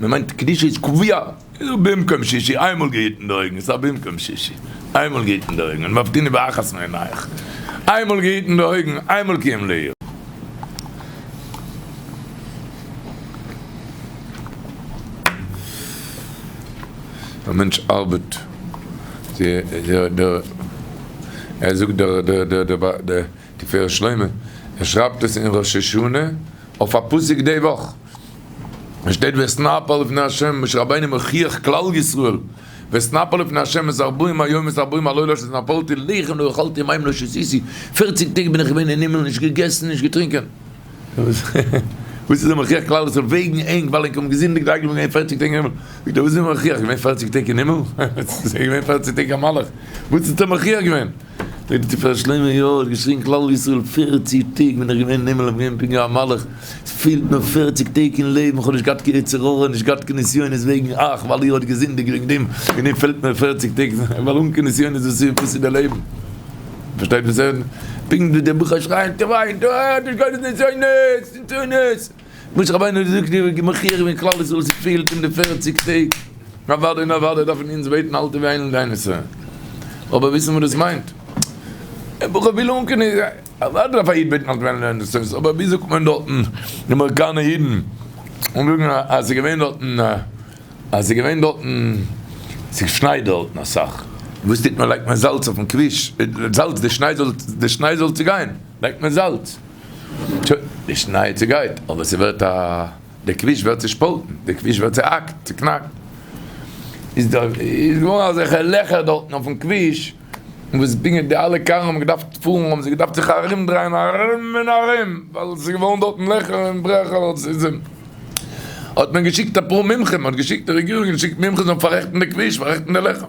מען מיינט קדושה איז קביעה, איז א במקום שישי, איינמאל געהיטן די אויגן, ס'איז א במקום שישי, איינמאל געהיטן די אויגן, ומבטין באחת מעיניך, איינמאל געהיטן די אויגן, איינמאל קיים לעיל. א מענטש ארבעט, אזוי זאגט דער תפארת שלמה, ער שרייבט עס אין ראש השנה אויף א פסוק די וואך. עס שטייט ואשנפה לפני השם, משה רבינו מוכיח כלל ישראל, ואשנפה לפני השם את ארבעים היום ואת ארבעים הלילות שנפלתי לחם לא אכלתי מים לא שתיתי, פערציג טעג בין איך געווען אין הימל נישט געגעסן נישט געטרינקען, וואס איז ער מוכיח כלל ישראל וועגן ענק ווייל ענק האבן געזינדיגט זיי געווען פערציג טעג אין הימל, זאגט ער וואס איז ער מוכיח געווען פערציג טעג אין הימל, ער איז געווען פערציג טעג א מלאך, וואס האט ער מוכיח געווען? דער תפארת שלמה יאר האט געשריגן כלל ישראל פערציג טעג בין איך געווען אין הימל איך בין געווען פונקט ווי א מלאך, עס פעלט מיר פערציג טעג אין לעבן איך האב נישט געהאט קיין יצר הרע נישט געהאט קיין נסיונות וועגן אייך ווייל איר האט געזינדיגט וועגן דעם וועגן דעם פעלט מיר פערציג טעג ווייל אן קיין נסיונות וואס איז וואס איז דער לעבן פארשטייט וואס איך פונקט ווי דער בוכאר שרייען טובי' טובי' נישט קיינע נסיונות נסיונות. משה רבינו האט געזאגט איר וועט מחי' ווערן כלל ישראל ס'איז פעהלט אים די פערציג טעג, אוודאי און אוודאי דארפן אונז בעטן אלטע ווי איילנד איין ישראל, אבער וויסן וואס דאס מיינט, א בחור וויל אנקענע, אוודאי דארף א איד בעטן אלטע ווי איילנד איין ישראל, אבער ווי זאגט מען דארטן די אמעריקאנע אידן זאגן אז ס'איז געווען דארטן אז ס'איז געווען דארטן ס'איז שנייט דארטן אסאך, וואס טוט מען לייגט מען זאלץ אויפן כביש, זאלץ די שניי זאל די שניי זאל צוגיין לייגט מען זאלץ. טא, די שניי צעגייט, אבער ס'ווערט א. די כביש ווערט צעשפאלטן, די כביש ווערט צעהאקט, צעקנאקט. איז דא, איז געווארן אזעלכע לעכער דארטן אויפן כביש, וואס בינגעט די אלע קארן האבן געדארפט פארן, האבן זיי געדארפט זיך ארומדרייען ארום און ארום, ווייל ס'איז געווארן דארטן לעכער און ברעכער, האט מען געשיקט אפאר מומחים, האט געשיקט די רעגירונג, געשיקט מומחים זאלן פאררעכטן די כביש, פאררעכטן די לעכער.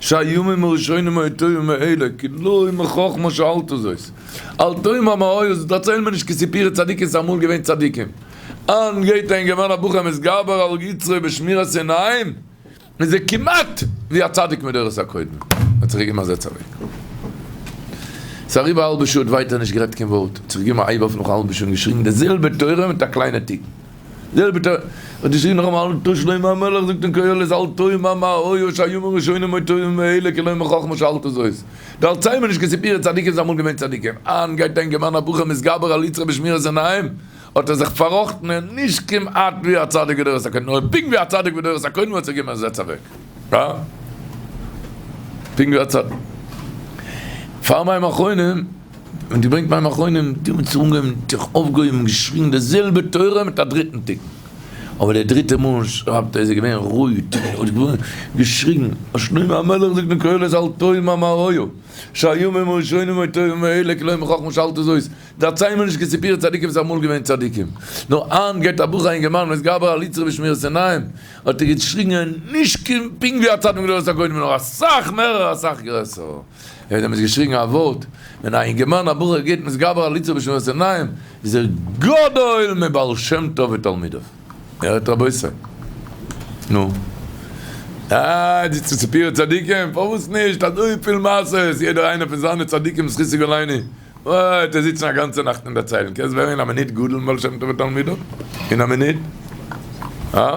שהימים הראשונים היו טובים מאלה, כי לא היו מחכמה שאלתו זאת. אל תהיו מאמהות, זאלסט דערציילן מיר נישט כסיפורי צדיקים ס'איז אמאל געווען צדיקים. אן גייט אהן געווען א בחור מתגבר על יצרו בשמירת עיניים, איז ער כמעט ווי א צדיק מדורות הקודמים. מ'האט זיך געגעבן א זעץ אוועק. ס'איז אריבער א האלבע שעה, האט ווייטער נישט גערעדט קיין ווארט, האט זיך געגעבן א הייב אויף נאך א האלבע שעה און געשריגן די זעלבע תורה מיט א קליינע תיקון. זעלבע טאג האט געשריבן נאכאמאל אל תור שלמה המלך זאגט אין קהלת אל תור מה מה הוי ה' יאמר ראשונים אוי תורים וממילא כלא מה חכמה שאל את זאת דארציי מיר נישט קיין סיפורי צדיקים זיי אמאל געווען צדיקים אהן גייט אהן געוואן א בחור מתגבר על יצרו בשמירת עיניים האט ער זיך פאראכטן און נישט כמעט ווי א צדיק בדורות הקודמים נאר פונקט ווי א צדיק בדורות הקודמים האט זיך געגעבן א זעץ אוועק פונקט ווי א צדיק פאר מים אחרונים. און דו ברענגט מים אחרונים, די האבן זיך אנגעהויבן, זיך אויפגעהויבן, געשריגן די זעלבע תורה מיט א דריטן תיקון, אבער די דריטע מאל שרייבט ער איז ער געווען רויט, געשריגן, אז שלמה המלך זאגט אין קהלת אל תהיו ממראהו, שהיו מן הראשונים היו טובים מאלה, כלומר חכמה שאלט עס אויס, דערצייל מיר נישט קיין סיפורי צדיקים וואס זיי האבן אמאל געווען צדיקים, נאר היינט גייט א בחור א אינגערמאן וואס גבר על יצרו בשמירת עיניים, האט ער געשריגן נישט פונקט ווי א צדיק מדורות הקודמים נאר אסאך מערער אסאך גרעסער. ווען ער האט געשריגן א ווארט, ווען א אינגערמאן א בחור גייט מתגבר עליצה בשנות עיניים, איז ער גדול מבעל שם טוב ותלמידיו. איר הערט רבותי? נו. אה, די ספיר צדיקים, פארוואס נישט אזויפיל מעשה'ס, יעדער איינער פון זיינע צדיקים זכותו גלינו, אה, ט'ער זיצן א גאנצע נאכט און דערציילן, קענסט ווערן אין א מינוט גדול מבעל שם טוב ותלמידיו? אין א מינוט? אה?